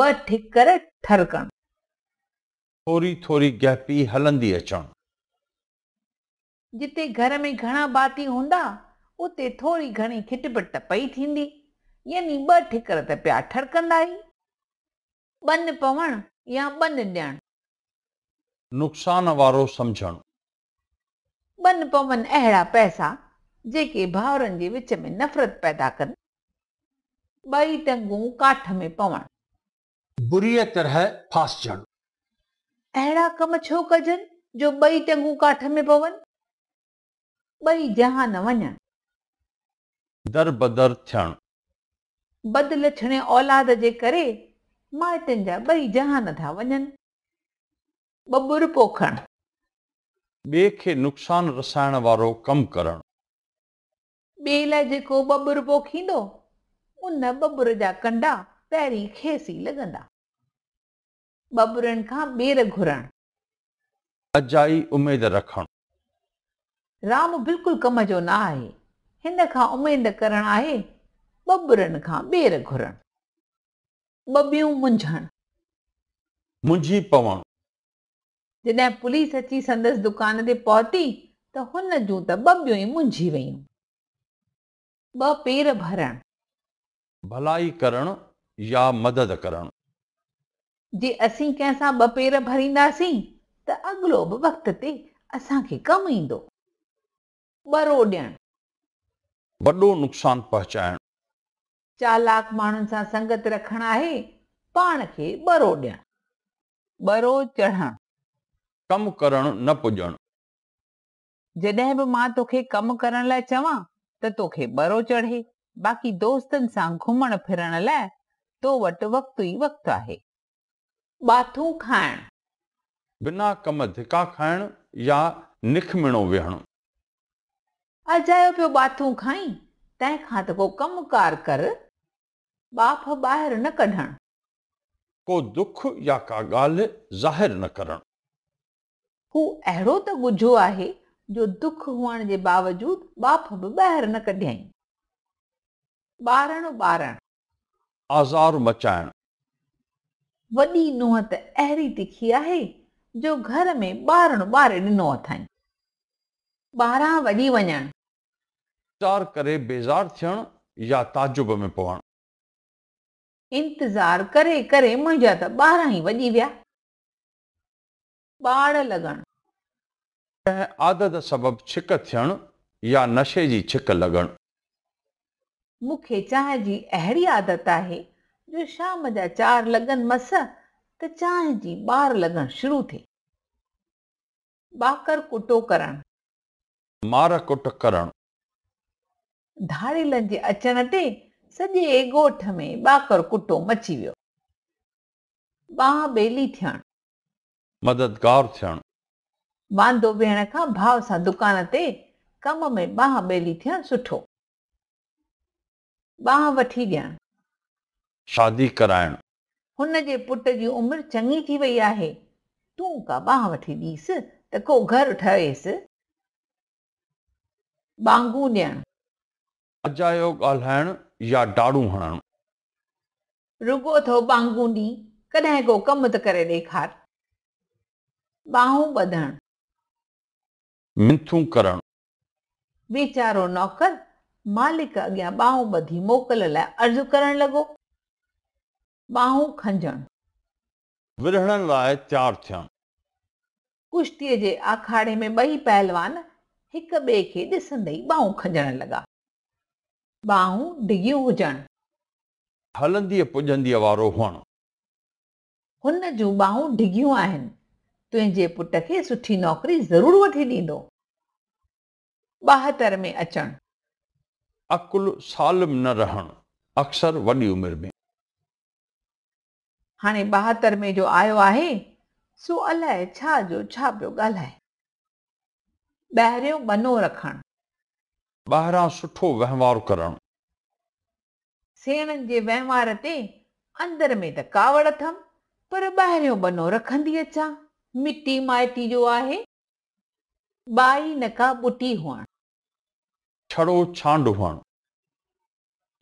ٻه ٺڪر ٺرڪڻ. ٿوري ٿوري گهپي هلندي اچڻ. جتي گهر ۾ گهڻا ڀاتي هوندا، اتي ٿوري گهڻي کٽپٽ ته پئي ٿيندي، يعني ٻه ٺڪر ته پيا ٺرڪندا ئي. ٻن پوڻ يا ٻن ڏيڻ. نقصان وارو سمجهڻ. ٻن پون اهڙا پئسا جيڪي ڀائرن جي وچ ۾ نفرت پيدا ڪن. ٻئي ٽنگون ڪاٺ ۾ پوڻ. بريء طرح ڦاسجڻ. اهڙا ڪم ڇو ڪجن جو ٻئي ٽنگون ڪاٺ ۾ پون. ٻئي جهان وڃڻ. دربدر ٿيڻ. بد لڇڻي اولاد جي ڪري مائٽن جا ٻئي جهان ٿا وڃن. ٻٻر پوکڻ. ٻئي کي نقصان رسائڻ وارو ڪم ڪرڻ. ٻئي لاء جيڪو ٻٻر پوکيندو، ان ٻٻر جا ڪنڊا پيرين کيس ئي لڳندا. ٻٻرن کان ٻير گهرڻ. اجائي اميد رکڻ. رام بلڪل ڪم جو نه آهي، هن کان اميد ڪرڻ آهي ٻٻرن کان ٻير گهرڻ. ٻٻيون منجهڻ. منجهي پوڻ. جڏهن پوليس اچي سندس دڪان تي پهتي ته هن جون ته ٻٻيون ئي منجهي ويون. ٻه پير ڀرڻ. ڀلائي ڪرڻ يا مدد ڪرڻ. جي اسين ڪنهن سان ٻه پير ڀرينداسين ته اڳلو به وقت تي اسان کي ڪم ايندو. ٻرو ڏيڻ. وڏو نقصان پهچائڻ. چالاڪ ماڻهن سان سنگت رکڻ آهي پاڻ کي ٻرو ڏيڻ. ٻرو چڙهڻ. ڪم ڪرڻ نه پڄڻ. جڏهن به مان توکي ڪم ڪرڻ لاء چوان ته توکي ٻرو چڙهي، باقي دوستن سان گهمڻ ڦرڻ لاء تو وٽ وقت ئي وقت آهي. ٻاٿو کائڻ. بنا ڪم ڌڪا کائڻ يا نکمڻو ويهڻ. اجايو پيو ٻاٿو کائين، تنهن کان ته ڪو ڪم ڪار ڪر، ٻاڦ ٻاهر نه ڪڍڻ. ڪو دک يا ڪا ڳالهه ظاهر نه ڪرڻ. هو اهڙو ته ڳجهو آهي، جو دک هئڻ جي باوجود ٻاڦ به ٻاهر نه ڪڍيائين. ٻارڻ ٻارڻ. آزار مچائڻ. وڏي نوح ته اهڙي تکي آهي جو گهر ۾ ٻارڻو ٻاري ڏنو اٿائين. ٻاران وڄي وڃڻ. انتظار ڪري بيزار ٿيڻ يا تعجب ۾ پوڻ. انتظار ڪري ڪري منهنجا ته ٻاران ئي وڄي ويا. ٻاڙ لڳڻ. ڪنهن عادت سبب ڇڪ ٿيڻ يا نشي جي ڇڪ لڳڻ. مون کي چانهه جي اهڙي عادت آهي جو شام جا چار لڳن مس ته چانهه جي ٻار لڳڻ شروع ٿئي. ٻاڪر ڪٽو ڪرڻ. مار ڪٽ ڪرڻ. ڌاڙيلن جي اچڻ تي سڄي ڳوٺ ۾ ٻاڪر ڪٽو مچي ويو. ٻانهن ٻيلي ٿيڻ. مددگار ٿيڻ. واندو ويهڻ کان ڀاء سان دڪان تي ڪم ۾ ٻانهن ٻيلي ٿيڻ سٺو. ٻانهن وٺي ڏيڻ. شادي ڪرائڻ. هن جي پٽ جي عمر چڱي ٿي وئي آهي، تون ڪا ٻانهن وٺي ڏيس ته ڪو گهر ٺهيس. ٻانگون ڏيڻ. اجايو ڳالهائڻ يا ڊاڙون هڻڻ. رڳو اٿئو ٻانگون ڏي، ڪڏهن ڪو ڪم ته ڪري ڏيکار. ٻانهون ٻڌڻ. منٿون ڪرڻ. ويچارو نوڪر مالڪ اڳيان ٻانهون ٻڌي موڪل لاء عرض ڪرڻ لڳو. ٻانهون کنجڻ. ورهڙن لاء تيار ٿين. ڪشتيء جي آکاڙي ۾ ٻئي پهلوان هڪ ٻئي کي ڏسندي ئي ٻانهون کنجڻ لڳا. ٻانهون ڊگهيون هجڻ. هلنديء پڄنديء وارو هئڻ. هن جون ٻانهون ڊگهيون آهن. تنهنجي پٽ کي سٺي نوڪري ضرور وٺي ڏيندو. ٻاهتر ۾ اچڻ. عقل سالم نه رهڻ. اڪثر وڏي عمر ۾. هاڻي ٻاهتر ۾ جو آيو آهي، سو الاء ڇا جو ڇا پيو ڳالهائي. ٻاهريون ٻنو رکڻ. ٻاهران سٺو وهنوار ڪرڻ. سيڻن جي وهنوار تي اندر ۾ ته ڪاوڙ اٿم، پر ٻاهريون ٻنو رکندي اچان. مٽي مائٽي جو آهي. ٻائي نه ڪا ٻٽي هئڻ. ڇڙو ڇانڊ هئڻ.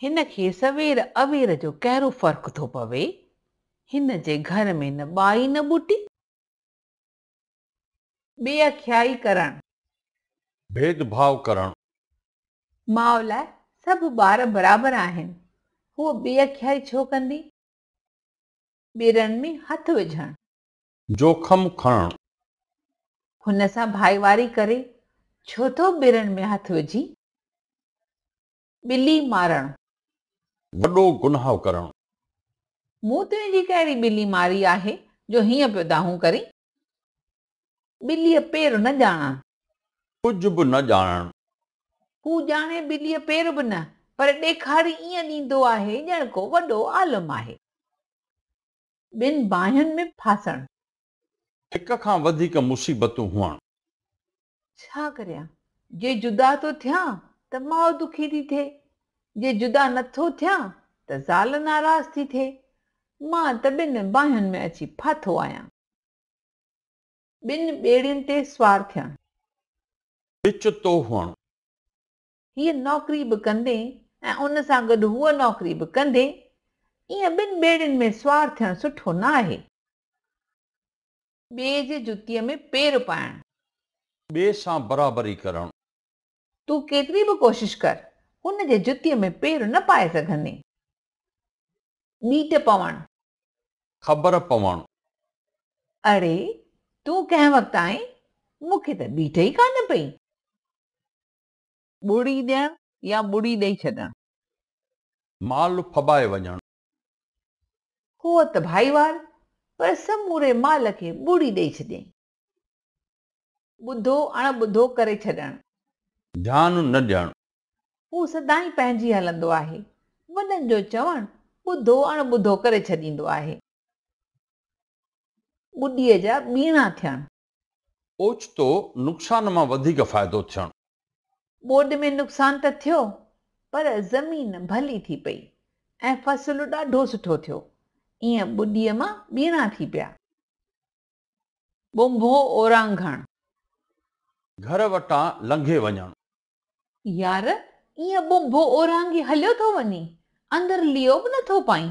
هن کي سوير اوير جو ڪهڙو فرق ٿو پوي؟ هن جي گهر ۾ نه ٻائي نه ٻوٽي. بي اکيائي ڪرڻ. ڀيد ڀاء ڪرڻ. ماء لاء سڀ ٻار برابر آهن. هوء بي اکيائي ڇو ڪندي؟ ٻيرن ۾ هٿ وجهڻ. جوکم کڻڻ. هن سان ڀائيواري ڪري ڇو ٿو ٻيرن ۾ هٿ وجهين؟ ٻلي مارڻ. وڏو گناهه ڪرڻ. مون تنهنجي ڪهڙي ٻلي ماري آهي جو هيئن پيو دانهون ڪرين؟ ٻليء پير نه ڄاڻڻ. ڪجهه به نه ڄاڻڻ. هو ڄاڻي ٻليء پير به نه، پر ڏيکاري ائين ڏيندو آهي ڄڻ ڪو وڏو عالم آهي. ٻن باهين ۾ ڦاسڻ. هڪ کان وڌيڪ مصيبتون هئڻ. ڇا ڪريان؟ جي جدا ٿو ٿيان ته ماء دکي ٿي ٿئي، جي جدا نه ٿو ٿيان ته زال ناراض ٿي ٿئي. مان ته ٻن باهين ۾ اچي ڦاٿو آهيان. ٻن ٻيڙين تي سوار ٿيڻ. ڏچتو هئڻ. هيء نوڪري به ڪندي ۽ ان سان گڏ هوء نوڪري به ڪندي، ائين ٻن ٻيڙين ۾ سوار ٿيڻ سٺو نه آهي. ٻئي جي جتيء ۾ پير پائڻ. ٻئي سان برابري ڪرڻ. تون ڪيتري به ڪوشش ڪر، هن جي جتيء ۾ پير نه پائي سگهندين. ٻيٽ پوڻ. خبر پوڻ. اڙي، تون ڪنهن وقت آئين؟ مون کي ته ٻيٽ ئي ڪانه پئي. ٻڙي ڏيڻ يا ٻڙي ڏئي ڇڏڻ. مال ڦٻائي وڃڻ. هوء ته ڀائيوار پر سموري مال کي ٻڙي ڏئي ڇڏيائين. ٻڌو اڻ ٻڌو ڪري ڇڏڻ. ڌيان نه ڏيڻ. هو سدائين پنهنجي هلندو آهي. وڏن جو چوڻ ٻڌو اڻ ٻڌو ڪري ڇڏيندو آهي. ٻڏيء جا ٻيڻا ٿيڻ. اوچتو نقصان مان وڌيڪ فائدو ٿيڻ. ٻوڏ ۾ نقصان ته ٿيو پر زمين ڀلي ٿي پئي ۽ فصل ڏاڍو سٺو ٿيو. ايئن ٻوڏيء مان ٻيڻا ٿي پيا. ٻنڀو اورانگهڻ. گهر وٽان لنگهي وڃڻ. يار، ايئن ٻنڀو اورانگهي هليو ٿو وڃين، اندر ليئو به نٿو پائين.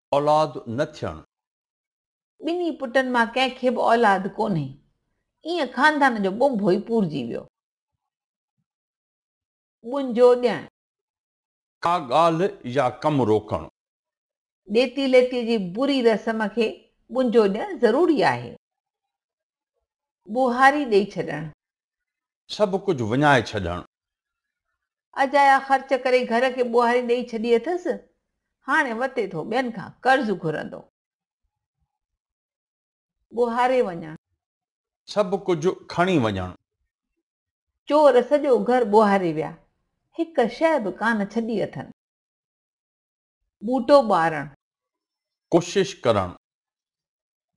اولاد نه ٿيڻ. ٻنهي پٽن مان ڪنهن کي به اولاد ڪونهي. ايئن خاندان جو ٻنڀو ئي پورجي ويو. ٻنجو ڏيڻ. ڪا ڳالهه يا ڪم روڪڻ. ڏيتي ليتي جي بري رسم کي ٻنجو ڏيڻ ضروري آهي. ٻوهاري ڏيئي ڇڏڻ. سڀ ڪجهه وڃائي ڇڏڻ. اجايا خرچ ڪري گهر کي ٻوهاري ڏئي ڇڏي اٿس، هاڻي وتي ٿو ٻين کان قرض گهرندو. ٻوهاري وڃڻ. سڀ ڪجهه کڻي وڃڻ. چور سڄو گهر ٻوهاري ويا، هڪ شيء به ڪانه ڇڏي اٿن. ٻوٽو ٻارڻ. ڪوشش ڪرڻ.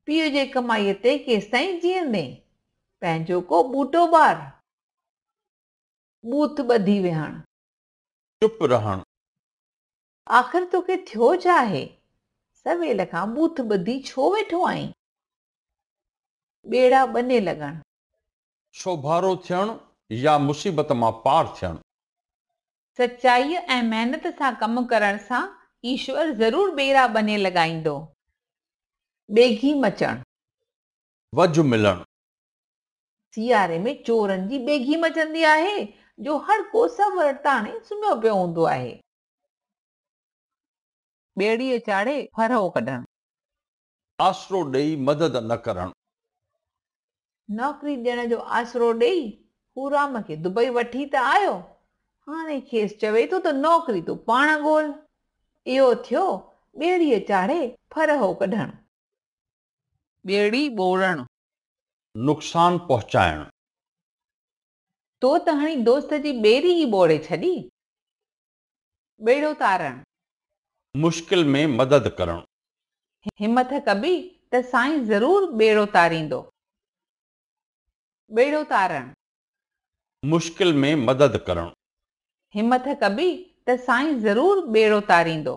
پيء جي ڪمائيء تي ڪيستائين جيئندين؟ پنهنجو ڪو ٻوٽو ٻار. ٻوٿ ٻڌي ويهڻ. چپ رهڻ. آخر توکي ٿيو ڇا آهي؟ سويل کان ٻوٿ ٻڌي ڇو ويٺو آهين؟ ٻيڙا ٻني لڳڻ. سوڀارو ٿيڻ يا مصيبت مان پار ٿيڻ. سچائيء ۽ محنت سان ڪم ڪرڻ سان ايشور ضرور ٻيرا ٻني لڳائيندو. ٻيگهي مچڻ. وجهه ملڻ. سياري ۾ چورن جي ٻيگهي مچندي آهي، جو هر ڪو سهه ورڙ تاڻي سمهيو پيو هوندو آهي. ٻيڙيء چاڙهي ڦرهو ڪڍڻ. آسرو ڏيئي مدد نه ڪرڻ. نوڪري ڏيڻ جو آسرو ڏيئي پورام کي دبئي وٺي ته آيو، هاڻي کيس چوي ٿو ته نوڪري تون پاڻ ڳول. اهو ٿيو ٻيڙيء چاڙهي ڦرهو ڪڍڻ. ٻيڙي ٻوڙڻ. نقصان پهچائڻ. تو ته هڻي دوست جي ٻيڙي ئي ٻوڙي ڇڏي. ٻيڙو تارڻ. مشڪل ۾ مدد ڪرڻ. همٿ ڪبي ته سائين ضرور ٻيڙو تاريندو. ٻيڙو تارڻ. مشڪل ۾ مدد ڪرڻ. همٿ ڪبي ته سائين ضرور ٻيڙو تاريندو.